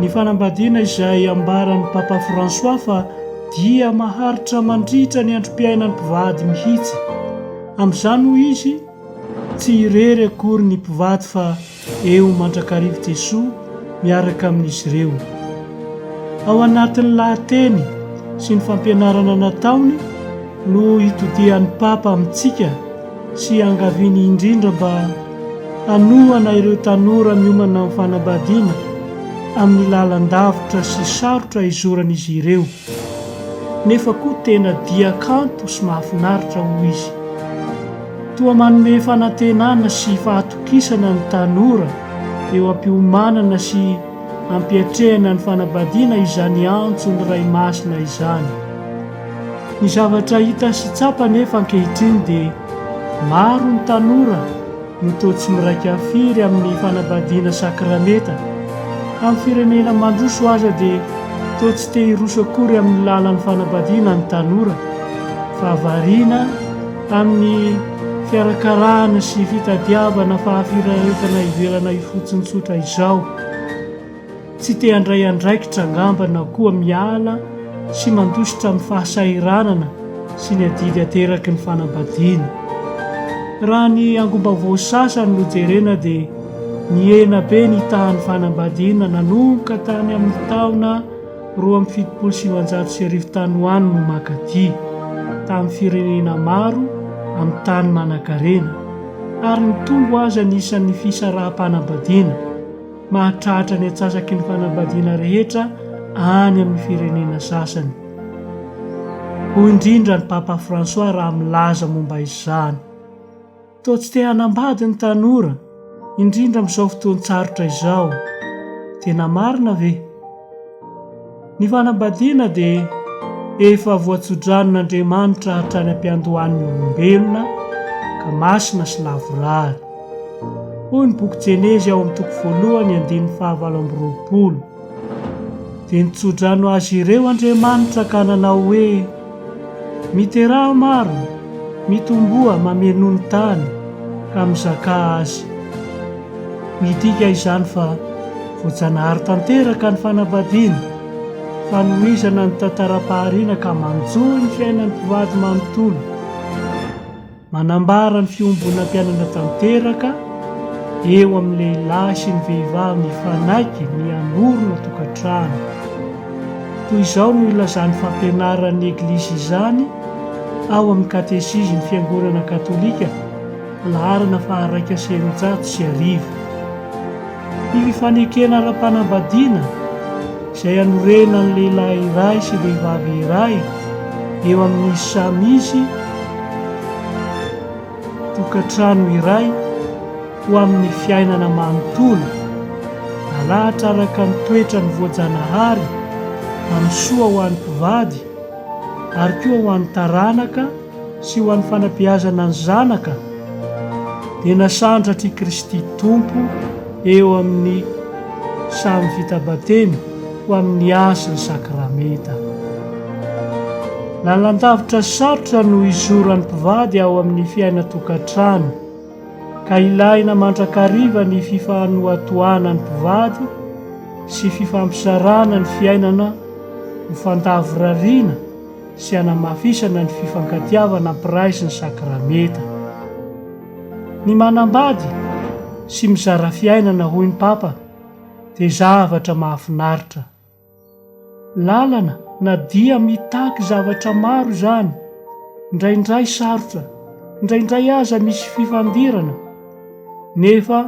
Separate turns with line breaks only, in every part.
Ny fanambadiana izay ambaran'i Papa François fa dia maharitra mandritra ny androm-piainan'ny mpivady mihitsy. Amin'izany hoy izy, tsy irery akory ny mpivady fa eo mandrakariv Jesoa miaraka amin'izy ireo. Ao anatin'ny lahateny sy ny fampianarana nataony no itodihan'ny Papa amintsika, sy iangaviany indrindra mba hanohana ireo tanora miomana amin'ny fanambadiana amin'ny lalan-davitra sy sarotra izoran'izy ireo, nefa koa tena dia kanto sy mahafinaritra, hoy izy. Toa manome fanantenana sy fahatokisana ny tanora eo am-piomanana sy ampiatrehana ny fanambadiana izany antso ny Ray Masina izany. Ny zavatra hita sy tsapa anefa ankehitriny dia maro ny tanora no toa tsy miraika firy amin'ny fanambadiana sakramenta. Amin'ny firenena mandroso aza dia toa tsy te hiroso akory amin'ny lalan'ny fanambadiana ny tanora fa variana amin'ny fiarakarahana sy fitadiavana fahafiraretana ivelana ifotsiny tsotra izao. Tsy te handray andraikitra angamba na koa miala sy mandositra amin'ny fahasahiranana sy ny adidy ateraky ny fanambadiana. Raha ny angom-baovao sasany no jerena dia nihena be ny tahan'ny fanambadiana nanomboka tany amin'ny taona roa amby fitopolo sy sivinjato sy arivo tany ho any no maka dia tamin'ny firenena maro amin'ny tany manankarena ary nitombo aza ny isan'ny fisaraham-panambadiana. mahatratra ny atsasaky ny fanambadiana rehetra any amin'ny firenena sasany, hoy indrindra ny Papa François raha milaza momba izany. Toa tsy te hanambady ny tanora, indrindra amin'izao fotoan-tsarotra izao. Tena marina ve? Ny fanambadiana dia efa voatso-dranon'Andriamanitra hatrany am-piandohan'ny olombelona ka masina sy lavorary. Hoy ny boky Jenezy ao amin'ny toko voalohany andininy fahavalo amby roapolo, Dia nitso-drano azy ireo Andriamanitra ka nanao hoe, Miteraha maro, mitomboa mameno ny tany ka mizakà azy. Midika izany fa voajanahary tanteraka ny fanambadiana, fanohizana ny tantaram-pahariana ka manjohy ny fiainan'ny mpivady manontolo. Manambara ny fiombonam-piainana tanteraka eo amin'ny lehilahy sy ny vehivavy mifanaiky ny hanorina tokantrano. Toy izao no ilazan'ny fampianaran'ny Eglizy izany ao amin'ny Katesizin'ny Fiangonana Katolika, laharana faha iraika sy eninjato sy arivo. Ny fifanekena ara-panambadiana izay anorenan'ny lehilahy iray sy vehivavy iray eo amin'ny samy izy tokantrano iray ho amin'ny fiainana manontolo, nalahatra araka ny toetrany voajanahary amin'ny soa ho an'ny mpivady ary koa ho an'ny taranaka, sy ho an'ny fanabeazana ny zanaka dia nasandratra i Kristy Tompo eo amin'ny samy vita batemy ho amin'ny hasy ny sakramenta. Lalandavitra sarotra no izoran'ny mpivady ao amin'ny fiainan-tokantrano, ka ilaina mandrakariva ny fifanohatohana ny mpivady sy fifampisarana ny fiainana ho fandavorariana sy hanamafisana ny fifankatiavana ampiraizy ny sakramenta. Ny manambady sy mizara fiainana hoy ny Papa dia zavatra mahafinaritra. Lalana na dia mitaky zavatra maro izany, indraindray sarotra, indraindray aza misy fifandirana, nefa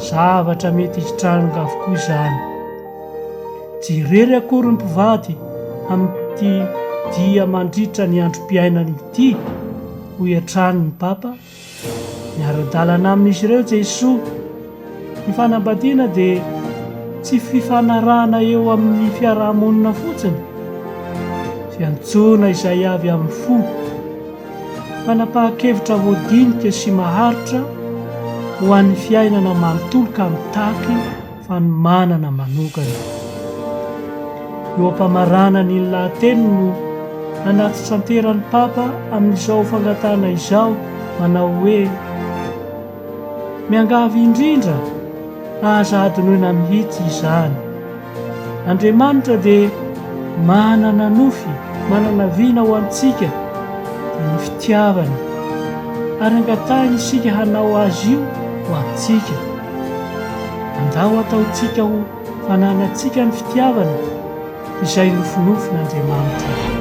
zavatra mety hitranga avokoa izany. Tsy irery akory ny mpivady amin'ity dia mandritra ny androm-piainany ity, hoy hatrany ny Papa. Miara-dalana amin'izy ireo Jesoa. Ny fanambadiana dia tsy fifanarahana eo amin'ny fiaraha-monina fotsiny, fiantsoana izay avy amin'ny fo. Fanapahan-kevitra voadinika sy maharitra ho an'ny fiainana manontolo ka mitaky fanomanana manokana. Eo am-pamaranany iny lahateniny no hanatitranterany ny Papa amin'izao fangatahana izao manao hoe, Miangavy indrindra, aza hadinoina mihitsy izany. Andriamanitra dia manana nofy, manana vina ho antsika, dia ny fitiavana, ary angatahiny isika hanao azy io ho antsika. Andao ataontsika ho fananantsika ny fitiavana, izay nofinofin'Andriamanitra.